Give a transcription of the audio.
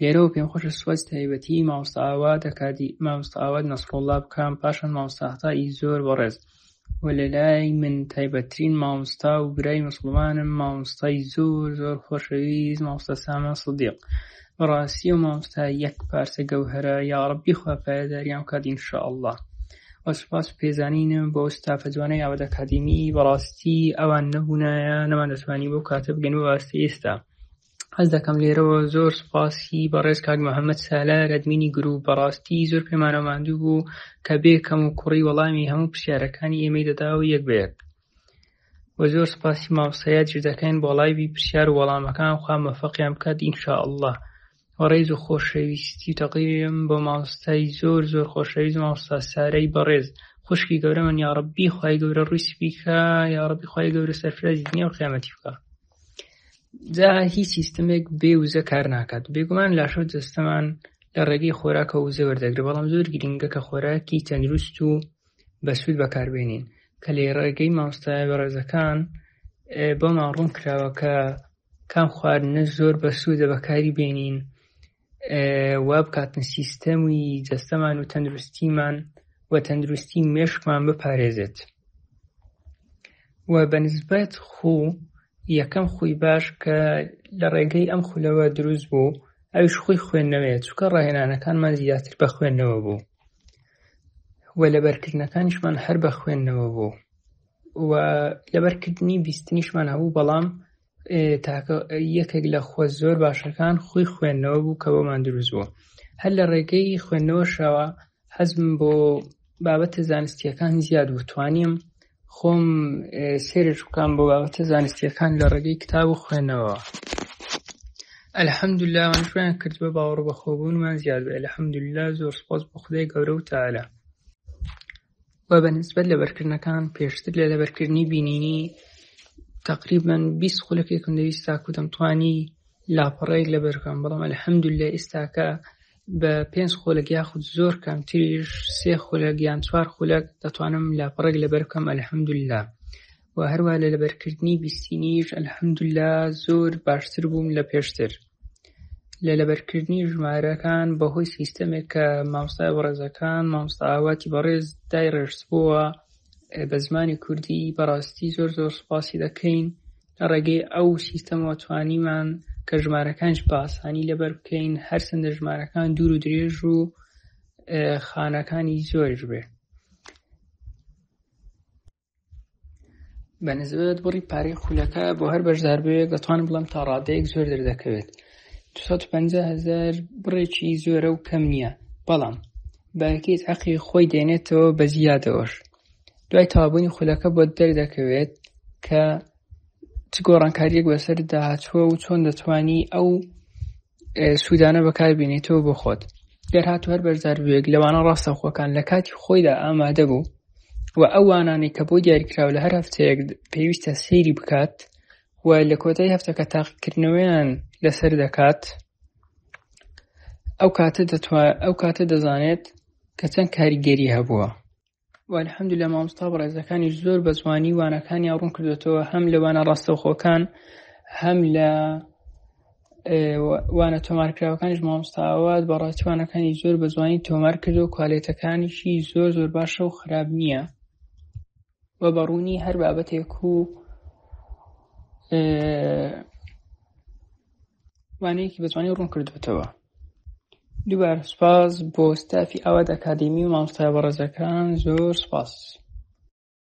لێرەوە پێم خۆشە سوپاسی تایبەتی مامۆستا ئاوات ئەکادی مامۆستا ئاوات نەسڕۆڵڵا بکەم پاشان مامۆستا عەتای زۆر بەڕێز و لە لای من تایبەتترین مامۆستا و برای مسلمانم مامۆستای زۆر زۆر خۆشەویست مامۆستا سامان سدیق بەڕاستی و مامۆستا یەک پارچە گەوهرە یا ڕەبی خوا پایەداریان بکات ان شاء الله و سوپاس و پێزانینم بۆ ستافە جوانەی ئاوات ئەکادیمی بەڕاستی ئەوان نەبوونایە نەمان دەتوانی بۆ کاتە بگەن بۆ ئاستی ئێستا هەست دەکەم لێرەوە زۆر سپاسی بەڕێز کاک محەممەد سالار ئەدمینی گروپ بەڕاستی زۆر پێمانە ماندوو بوو کە بێ کەم و کوڕی وەڵامی هەموو پرسیارەکانی ئێمەی دەدا و یەک بەیەک و زۆر سپاسی مامسەیە جر دەکەین بۆ لایبی پرسیار و وەڵامەکان خوا مەفەقیان بکات ئینشاء اللە و ڕێز و خۆشەویستی و تەقیم بۆ مامۆستای زۆر زۆر خۆشەویست مامۆستا سارەی بەڕێز خوشکی گەورەمن یاڕبی خی گەورە ڕووی سپیکە یاڕبی خی گەورە سەرفرازی دنیا و قیامەتی بکە جا هیچ سیستمێک بێ وزە کار ناکات بێگومان لاشۆ جستەمان لە ڕێگەی خۆراکە وزە وەردەگرێت بەڵام زۆر گرنگە کە خۆراکی تەندروست و بەسوود بەکاربێنین کە لێ ڕێگەی مامۆستای بەڕێزەکان بۆمان ڕوون کراوە کە کام خواردنە زۆر بەسوودە بەکاری بێنین وابکاتن سیستەمی جەستەمان و تەندروستیمان و تەندروستی مێشکمان بپارێزێت و بە نسبەت خو یەکەم خوی باش کە لە ڕێگەی ئەم خولەوە دروست بوو ئەوش خۆی خوێندنەوەیە چکە ڕاهێنانەکانمان زیاتر بە خوێندنەوە بوو و لەبەرکردنەکانیشمان هەر بە خوێندنەوە بوو و لەبەرکردنی بیستنیشمان هەبوو بەڵام تاکە یەکێک لە خۆ زۆر باشەکان خۆی خوێندنەوە بوو کە بۆمان دروست بوو هەر لە ڕێگەی خوێندنەوەشەوە حەزم بۆ بابەتە زانستیەکان زیاد بوو توانیم خۆم سێرش بکەم بۆ بابەتە زانستیەکان لە ڕێگەی کتاب و خوێندنەوە ئەلحەمدولا من شوێن کرد بە باوەڕ بەخۆبوونمان زیاد بێ لە حەمدولا زۆر سپۆس بە خدای گەورە و تاالە و بە نسبەت لەبەرکردنەکان پێشتر لە لەبەرکردنی بینینی تقریبان 20 خولەکێکم دەویست تاکو دەمتوانی لاپەڕەیەک لە بەرکەم بەڵام ئەلحەمدوللە ئێستاکە بە پێنج خولەک یاخود زۆر کەمتریش سێ خولەک یان چوار خولەک دەتوانم لاپەڕێک لەبەر بکەم ئەلحەمدوللە و هەروا لە لەبەرکردنی بیستینیش الحمدللە زۆر باشتر بووم لە پێشتر لە لەبەرکردنی ژمارەکان بەهۆی سیستەمێک کە مامۆستای بەڕێزەکان مامۆستا ئاواتی بەڕێز دای ڕێژبووە بە زمانی کوردی بەڕاستی زۆر زۆر سپاسی دەکەین لە ڕێگەی ئەو سیستەمەوە توانیمان کە ژمارەکانش بە ئاسانی لەبەر بکەین هەرچەندە ژمارەکان دوور و درێژ و خانەکانی زۆرش بێ بە نزبەت بڕی پارەی خولەکە بۆ هەر بەشدار بوێت دەتوانم بڵم تا ڕادەیەک زۆر دەردەکەوێت 250 هزار بڕێکی زۆرە و کەم نییە بەڵام باەکیت عقی خۆی دێنێتەوە بە زیادەوەش دوای تابوونی خولەکە بۆ دەردەکەوێت کە چ گۆڕانکاریەک بەسەر داهاتوە و چۆن دەتوانی ئەو سوودانە بەکار بینیتەوە بۆ خۆت گەر هاتو هەر بەرزار بووێک لەوانە ڕاستەخۆکان لە کاتی خۆیدا ئامادە بوو و ئەو وانانی کە بۆ دیاریکراو لە هەر هەفتەیەک پێویستە سەیری بکات و لە کۆتای هەفتەکە تاقیکردنەوەیان لەسەر دەکات ئەو کاتە ئەو کاتە دەزانێت کە چەند کاریگەری هەبووە والحمد لە مامۆستا بەڕێزەکانیش زۆر بە جوانی وانەکانیان ڕوون کردوێتەوە هەم لە وانە ڕاستەوخۆکان هەم لە وانە تۆمارکراوەکانیش مامۆستاوات بە ڕاستوانەکانی زۆر بە جوانی تۆمار کرد و کوالێتەکانیشی زۆر زۆر باشە و خراپ نییە و بەڕوونی هەر بابەتێک و وانەیەکی بەجوانی ڕوون کردوتەوە دووبار سپاس بۆ ستافی ئاوات ئەکادمی و مامۆستای بەڕێزەکان زۆر سپاس